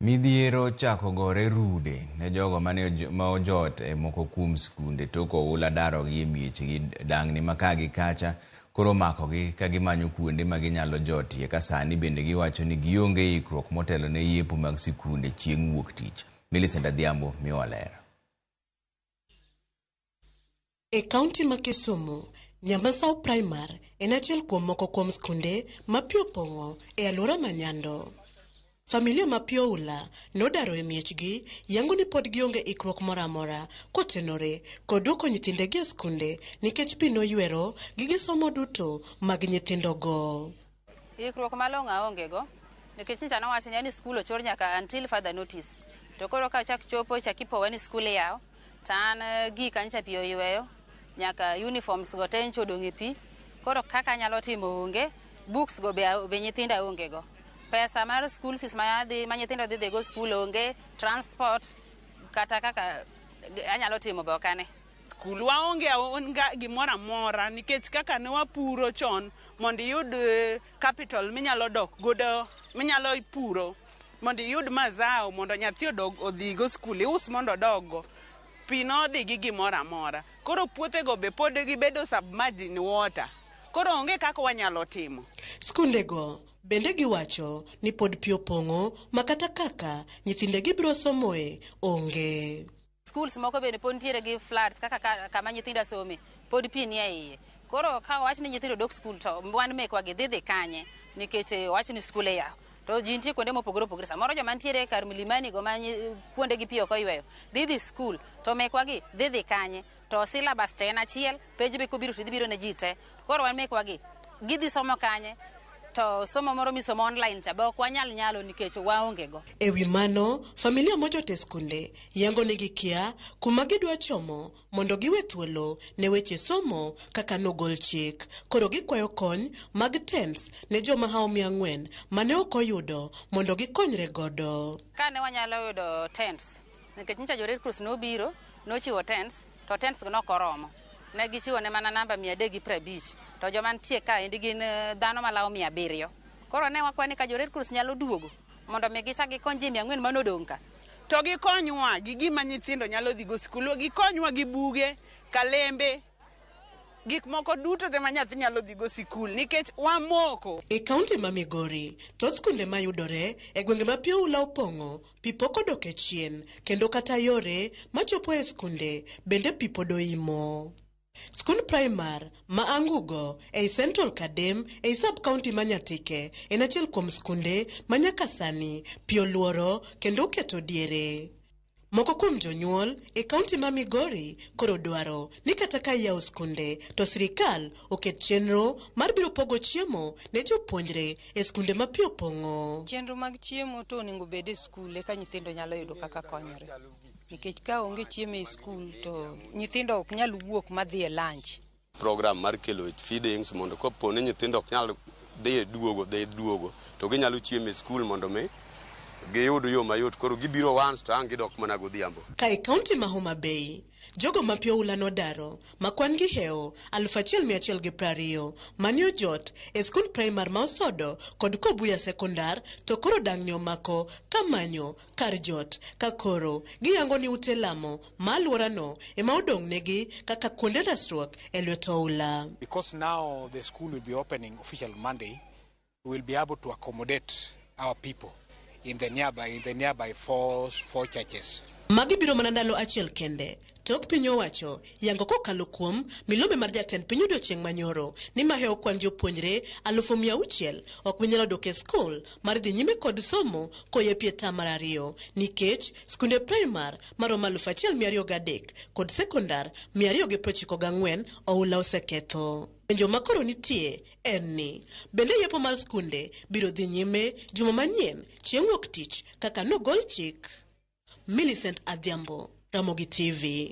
Midhiero ochako gore rude ne jogo mane ma ojot e moko kuom skunde tok oula darogi e miechgi dang'ni ma ka gi kacha koro omakogi ka gimanyo kuonde ma ginyalo jotie ka sani bende giwacho ni gionge ikruok motelo ne yepo mag sikunde chieng' wuok tich. Millicent Adhiambo miwa ler. E kaunti ma Kisumu, Nyamasaw Primar en achiel kuom moko kuom skunde ma pi opong'o e aluora ma Nyando. Familia ma pi oula nodaro e miechgi yango ni pod gionge ikruok moro amora kotenore kod duoko nyithindegi e skunde nikech pi noywero gige somo duto mag nyithindogo. Ikruok malong'o aongego nikech nyicha nowacho ni skul ochor nyaka until further notice. To koro ka chak chopo chak ipowa ni skul iyawo to an eh, gika nyicha pi oyweyo nyaka uniforms go te nyicha odong' e pi. Koro kaka anyalo timo onge, books go be, a- be nyithinda aonge go. Pesa mar skul fees ma, adhi, ma nyithindo dhi dhigo skul onge, transport kata kaka eh, anyalo timo be ok ane. Kul waonge aonga gimoro amora nikech kaka ne wapuro chon mondo iyud eh, capital minyalo dok godo minyalo puro mondo iyud mazao mondo nyathi odog odhigo skul ius mondo odoggo pi nodhi gi gimoro amora koro puothego be pod gibedo submerged in water koro onge kaka wanyalo timo Skundego bende giwacho ni pod pi opong'o ma kata kaka nyithindegi biro somoe onge. Schools moko bende pod nitiere gi floods kaka ka- kama nyithinda some pod pi nie iye. Koro ka wach ni nyithindo dok skul to wan mekwa gi dhi dhi kanye nikech eh, wach ni skul iyawo. To ji nitie kuonde mopogore opogore. Samoro joma nitiere kar milimani go ma nyi- kuonde gi pi ok oyweyo dhi dhi skul to mekwa gi dhi dhi kanye. To syllabus to en achiel, penj be kobiro to idhi biro ne ji te. Koro wan mekwa gi gidhi somo kanye to somo moro misomo online cha be ok wanyal nyalo nikech waonge go. E wi mano, familia mochote skunde yango ni gikia kuma gidwa chomo mondo giwe thuolo ne weche somo kaka nogol chik. Koro gikwayo kony mag tents ne joma hao mia ang'wen mane ok oyudo mondo gikonyre godo. Kane wanyalo yudo tents. Nikech nyicha jo Red Cross nobiro, nochiwo tents, to tents go ne ok oromo. Ne gichiwo ne mana namba mia adek gi piero abich, to joma nitie ka endi gin eh, dhano malawo mia abiriyo. Koro ne wakwayo ni ka jo Red Cross nyalo duogo mondo mi gichak gikony ji mia ang'wen mane odong' ka. To gikonywa gi gima nyithindo nyalo dhigo sikul, gikonywa gi buge, kalembe, gik moko duto te ma nyathi nyalo dhigo sikul nikech wamoko. E kaunti ma Migori, thoth skunde ma yudore e gwenge ma pi oula opong'o, pi pok odok e chien, kendo kata yore ma chopo e skunde bende pi pod oimo. Skund Primar ma Angugo ei Central Kadem ei sub kaunti ma Nyatike en achiel kuom skunde ma nyaka sani pi oluoro kendo oketo diere. Moko kuom jonyuol e kaunti ma Migori koro dwaro ni kata ka iyawo skunde to sirikal oket chenro mar biro pogo chiemo ne jopuonjre e skunde ma pi opong'o. Chenro mag chiemo to onego obed e skul eka nyithindo nyalo yudo kaka konyore. Nikech ka onge chiemo e skul to nyithindo ok nyal wuok madhi e lunch. program mar kelo feedings mondo kopo ni nyithindo ok nyal dhi e duogo dhi e duogo to ginyalo chiemo e skul mondo mi giyud yo mayot koro gibiro once to ang' gidok mana godhiambo. Ka e kaunti ma Homa Bay, jogo ma pi oula nodaro ma kwan-gi hewo aluf achiel mia achiel gi prariyo mane ojot e skund praimar ma Osodo kod Kobuya Sekondar to koro dang'ni omako ka manyo kar jot ka koro giyango ni ute lamo ma alworano ema odong'negi kaka kuonde resruok e lwet oula. Because now the school will be opening official Monday, we will be able to accommodate our people in the nearby, in the nearby four, four churches. Magi biro mana ndalo achiel kende tok piny owacho yango kokalo kuom milome mar jatend piny odiochieng' manyoro ni mahewo kwan jopuonjre alufu mia auchiel ok binyalo dok e skul mar dhi nyime kod somo koyepie tam mar ariyo nikech skunde primar maromo 1,203 kod sekondar 294 oula oseketho. Penjo ma koro nitie en ni, bende yepo mar skunde biro dhi nyime juma manyien chieng' wuok tich kaka nogol chik? Millicent Adhiambo, Ramogi TV.